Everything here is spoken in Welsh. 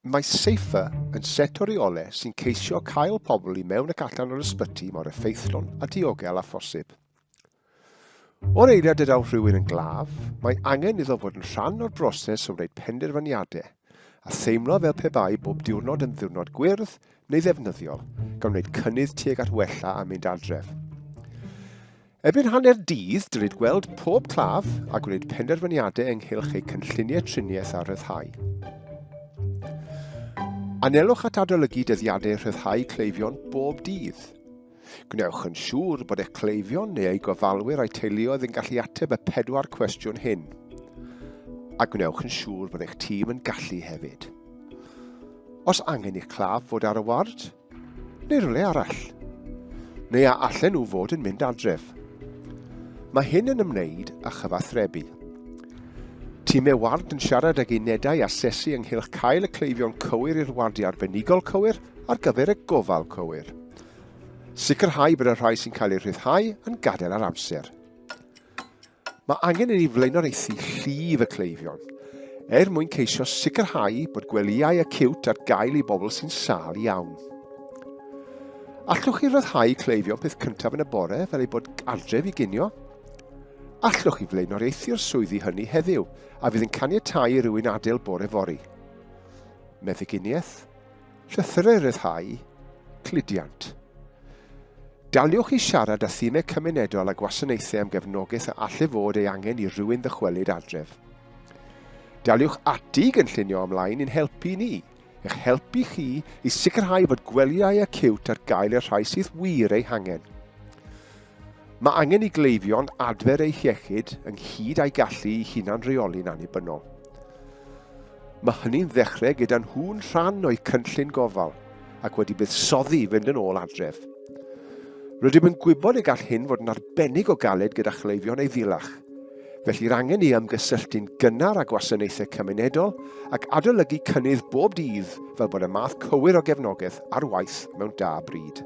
Mae Safer yn set o reole sy'n ceisio cael pobl i mewn ac allan o'r ysbyty mor effeithlon a diogel a phosib. O'r eiliad y daw rhywun yn glaf, mae angen iddo fod yn rhan o'r broses o wneud penderfyniadau, a theimlo fel pe bai bob diwrnod yn ddiwrnod gwyrdd neu ddefnyddiol, gan wneud cynnydd tuag at wella a mynd adref. Erbyn hanner dydd, dylid gweld pob claf a gwneud penderfyniadau ynghylch eu cynlluniau triniaeth a rhyddhau. Anelwch at adolygu dyddiadau rhyddhau cleifion bob dydd. Gwnewch yn siŵr bod eich cleifion neu eu gofalwyr a'i teuluoedd yn gallu ateb y pedwar cwestiwn hyn. A gwnewch yn siŵr bod eich tîm yn gallu hefyd. Os angen i'ch claf fod ar y ward, neu rhywle arall. Neu a allen nhw fod yn mynd adref. Mae hyn yn ymwneud â chyfathrebu. Time ward yn siarad ag unedau asesu ynghylch cael y cleifion cywir i'r wardiau arbenigol cywir ar gyfer y gofal cywir. Sicrhau bod y rhai sy'n cael eu rhyddhau yn gadael ar amser. Mae angen i ni flaenoriaethu llif y cleifion, er mwyn ceisio sicrhau bod gwelyau acywt ar gael i bobl sy'n sâl iawn. Allwch chi ryddhau cleifion peth cyntaf yn y bore fel ei bod adref i ginio? Allwch chi flaenoriaethu'r swyddi hynny heddiw a fydd yn caniatáu i rywun adael bore fori? Meddyginiaeth, Llythyrau Rhyddhau Cludiant Daliwch i siarad â thimau cymunedol a gwasanaethau am gefnogaeth a allai fod ei angen i rywun ddychwelyd adref. Daliwch ati i gynllunio ymlaen i'n helpu ni, eich helpu chi i sicrhau bod gwelyau acíwt ar gael i'r rhai sydd wir eu hangen. Mae angen i gleifion adfer eu hiechyd ynghyd â'i gallu i hunan reoli'n annibynnol. Mae hynny'n ddechrau gyda nhw'n rhan o'u cynllun gofal ac wedi buddsoddi i fynd yn ôl adref. Rydym yn gwybod y gall hyn fod yn arbennig o galed gyda chleifion ei ddilach, Felly'r angen i ymgysylltu'n gynnar â gwasanaethau cymunedol ac adolygu cynnydd bob dydd fel bod y math cywir o gefnogaeth ar waith mewn da bryd.